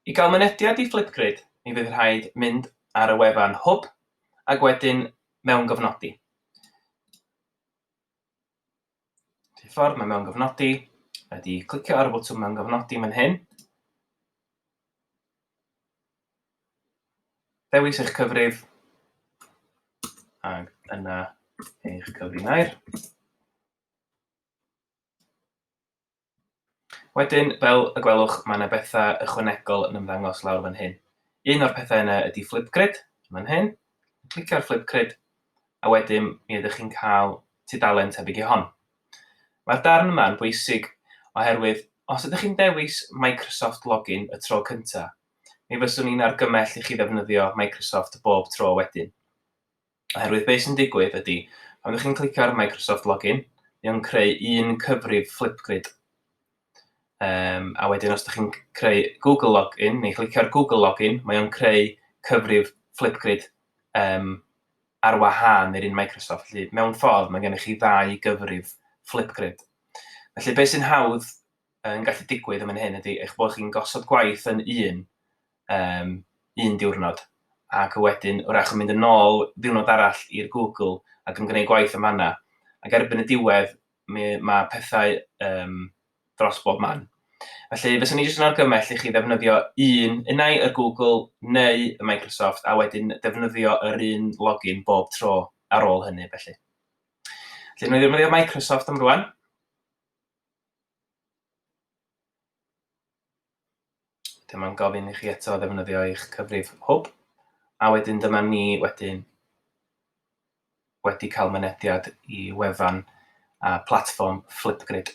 I gael mynediad i Flipgrid, mi fydd rhaid mynd ar y wefan Hwb ac wedyn mewngofnodi. Rhyw ffordd mae mewngofnodi wedi clicio ar y botwm mewngofnodi fan hyn. Dewis eich cyfrif ac yna eich cyfrinair. Wedyn, fel y gwelwch, mae yna bethau ychwanegol yn ymddangos lawr fan hyn. Un o'r pethau yna ydy Flipgrid, fan hyn. Clicio ar Flipgrid, a wedyn mi ydych chi'n cael tudalen tebyg i hon. Mae'r darn yma yn bwysig oherwydd os ydych chi'n dewis Microsoft Login y tro cyntaf, mi fyswn i'n argymell i chi ddefnyddio Microsoft bob tro wedyn. Oherwydd be sy'n digwydd ydy, pan ydych chi'n clicio ar Microsoft Login, mae o'n creu un cyfrif Flipgrid. Um, a wedyn os ydych chi'n creu Google Login, neu clicio ar Google Login, mae o'n creu cyfrif Flipgrid um, ar wahân i'r un Microsoft. Felly, mewn ffordd, mae gennych chi ddau gyfrif Flipgrid. Felly, beth sy'n hawdd yn gallu digwydd yn fan hyn ydy eich bod chi'n gosod gwaith yn un um, un diwrnod, ac wedyn wrach yn mynd yn ôl ddiwrnod arall i'r Google ac yn gwneud gwaith am fanna. Ac erbyn y diwedd, mae, mae pethau um, dros bob man. Felly, fes o'n i jyst yn argymell i chi ddefnyddio un, unau y Google neu y Microsoft, a wedyn defnyddio yr un login bob tro ar ôl hynny, felly. Felly, nhw'n ddefnyddio Microsoft am rwan. Dyma'n gofyn i chi eto ddefnyddio eich cyfrif hwb, a wedyn dyma ni wedyn wedi cael mynediad i wefan a platfform Flipgrid.